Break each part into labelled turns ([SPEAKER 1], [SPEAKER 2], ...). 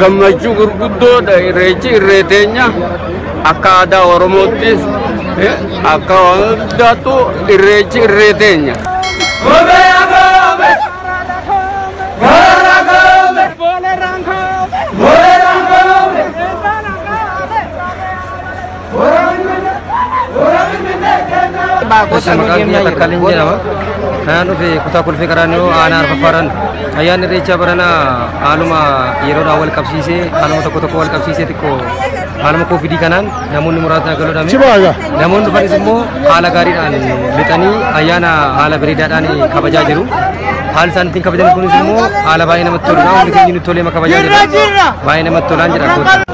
[SPEAKER 1] gammachuu gurguddoodha irreechi irree teenya akka aadaa oromoottis eh, akka hundaattu irreechi irree teenya. Boleraan kaa'ame. Boleraan kaa'ame. Irraan kaa'ame. Gosa maqaan kiyya Takkaalin jedhama. Kanaan dhufe kutaa kolfee qaraaniyoo aanaa arfaffaaraan ayyaanni irreechaa baranaa haaluma yeroodhaan wal qabsiisee haaluma tokko tokko wal qabsiisee xiqqoo haaluma koovidii kanaan namoonni muraasni galuudhaan namoonni dhufanis immoo haala gaariidhaan lixanii ayyaana haala bareedaadhaan kabajaa jiru. Haal isaan ittiin kabajan kunis immoo haala baay'ee namatti toludha. Hundi keenya nutti tolee kabajaa jira. Baay'ee namatti tolaan jedha.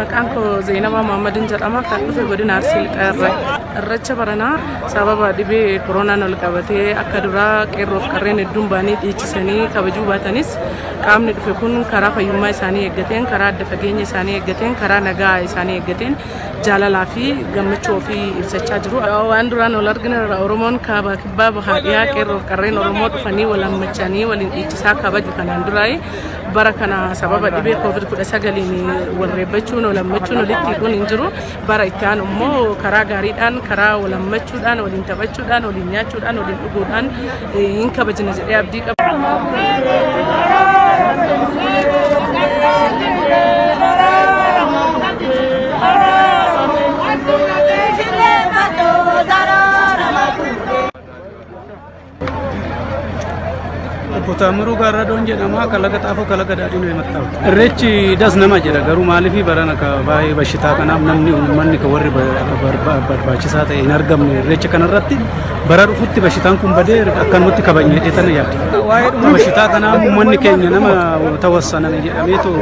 [SPEAKER 1] Maqaan koo Zeenabaa Maammadin jedhama. Kan dhufe godina Arsii Lixaarra. Irreecha baranaa sababa dhibee koronaan ol qabatee akka duraa qeerroof qarreen hedduun baanii dhiichisanii kabajuu baatanis qaamni dhufe kun karaa fayyummaa isaanii eeggateen, karaa adda fageenya isaanii eeggateen, karaa nagaa isaanii eeggateen jaalalaa fi gammachuu ofii ibsachaa jiru. Waan duraan ol argina Oromoon kaabaa kibbaa bahaa dhiyaa qeerroof qarreen Oromoo dhufanii wal hammachanii waliin dhiichisaa kabaju kanaan duraa'e. bara kana sababa dhibee covid 19 walreebbachuun walammachuun walitti hidhuun hin jiru bara itti aanu immoo karaa gaariidhaan karaa walammachuudhaan waliin taphachuudhaan waliin nyaachuudhaan waliin dhuguudhaan eh, hin kabajna jedhee abdii qaba. Obbo Taamiruu Gaarradoon jedhama. Kalaqa xaafoo kalaqa daadhiin himattama. Irreechi das nama jedha garuu maaliif barana ka baay'ee bashitaa kanaaf namni uummanni ka warri barbaachisaa ta'e hin argamne irreecha kanarratti bara dhufutti bashitaan kun badee akkanumatti kabajne jedhee tana yaada. Waa'ee dhuma bashitaa kanaa uummanni keenya nama tawassaname jedhamee too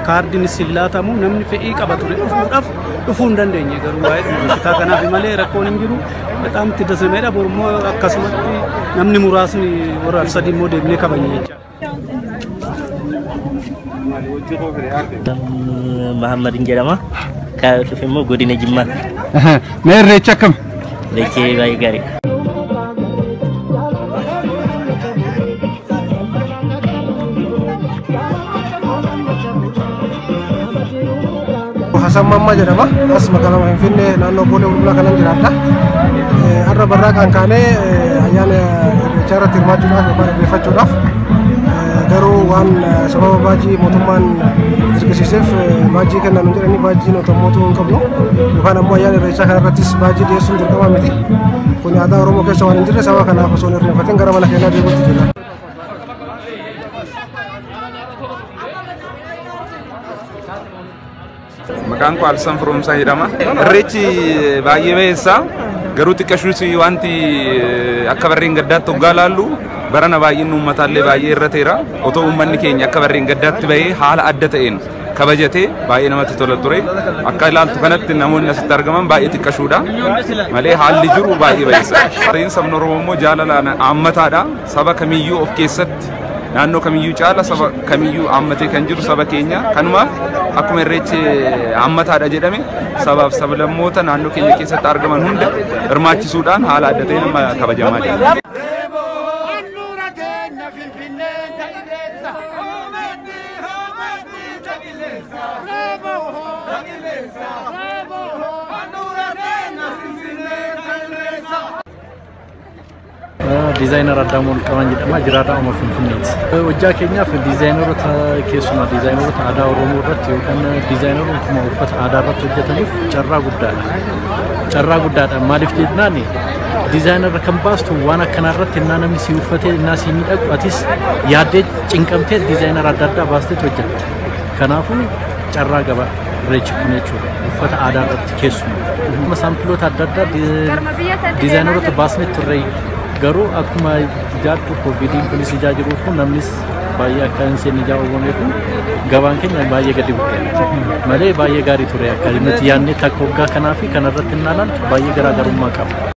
[SPEAKER 1] kaardiin sillaatamu namni fedhii qaba ture dhufuudhaaf dhufuu hin dandeenye garuu waa'ee dhuma bashitaa kanaaf malee rakkoon hin jiru. በጣም itti dasameedha borummoo akkasumatti namni muraasni warra arsadii immoo deemnee kabanya jecha
[SPEAKER 2] Muhammad hin jedhama. Kan dhufe immoo godina Jimmaa. Mee
[SPEAKER 3] irreecha akkam? Irreechi baay'ee
[SPEAKER 2] gaariidha.
[SPEAKER 4] Hasan Mammaa jedhama. As magaalaa Finfinnee naannoo Boolee Bulbulaa kanan jiraadha. Eh, Har'a barraa kan kaanee eh, ayyaana irreechaa irratti hirmaachuudhaaf yookaan irreeffachuudhaaf eh, garuu waan eh, sababa baajii mootummaan dirqisiiseef eh, baajii kennan hin jedhanii baajii nuti mootuu hin qabnu yookaan ammoo ayyaana irreechaa kana irrattis baajii dhiyeessuun dirqama miti. Kun aadaa Oromoo keessa waan hin jirre sababa kanaaf osoo hin irreeffatin gara mana keenyaa deemuutti jira.
[SPEAKER 5] Maqaan koo Alsan Firoomsaa jedhama. Irreechi baay'ee bayeessa. Garuu xiqqashuus wanti akka barreen gaddaatti hoggaa laallu barana baay'inni uummataallee baay'ee irra teera. Otoo uummanni keenya akka barreen gaddaatti bahee haala adda ta'een kabajatee baay'ee namatti tola ture. Akka ilaaltu kanatti namoonni asitti argaman baay'ee xiqqashuudha. Malee haalli jiru baay'ee bayeessa. Barreen sabni Oromoo immoo jaalala haammataadha. Saba kamiyyuu of keessatti naannoo kamiyyuu caala saba kamiyyuu hammatee kan jiru saba keenya kanumaaf akkuma irreechi hammataadha jedhame sabaaf sablammoota naannoo keenya keessatti argaman hunda hirmaachisuudhaan haala adda ta'een amma kabajamaa jira.
[SPEAKER 6] Bravo! Diizaayinar Addaamuu Olqabaan jedhama. Jiraataa Oromoo Finfinneeti. Hojjaa keenyaaf diizaayineroota keessumaa diizaayineroota aadaa Oromoo irratti yookaan diizaayinerootuma uffata aadaa irratti hojjetaniif carraa guddaadha. Carraa guddaadha. Maaliif jennaan diizaayinara kan baastu waan akkanaa irratti innaa namni si uffatee innaa si miidhagu atis yaaddee cinqamtee diizaayinara adda addaa baastee hojjetta. Kanaafuu carraa gaba irreechi kun jechuudha. Uffata aadaa irratti. keessumaa akkuma saampiloota adda addaa diizaayinaroota baasnee turre garuu akkuma ijaartu kooviidiin kunis ijaa jiruuf namnis baay'ee akka hin seenne ijaa uumameef gabaan keenya baay'ee gadi bu'eera malee baay'ee gaarii ture akka nuti yaadnetti akka waggaa kanaa fi kanarratti hin ilaalan baay'ee garaagarummaa qaba.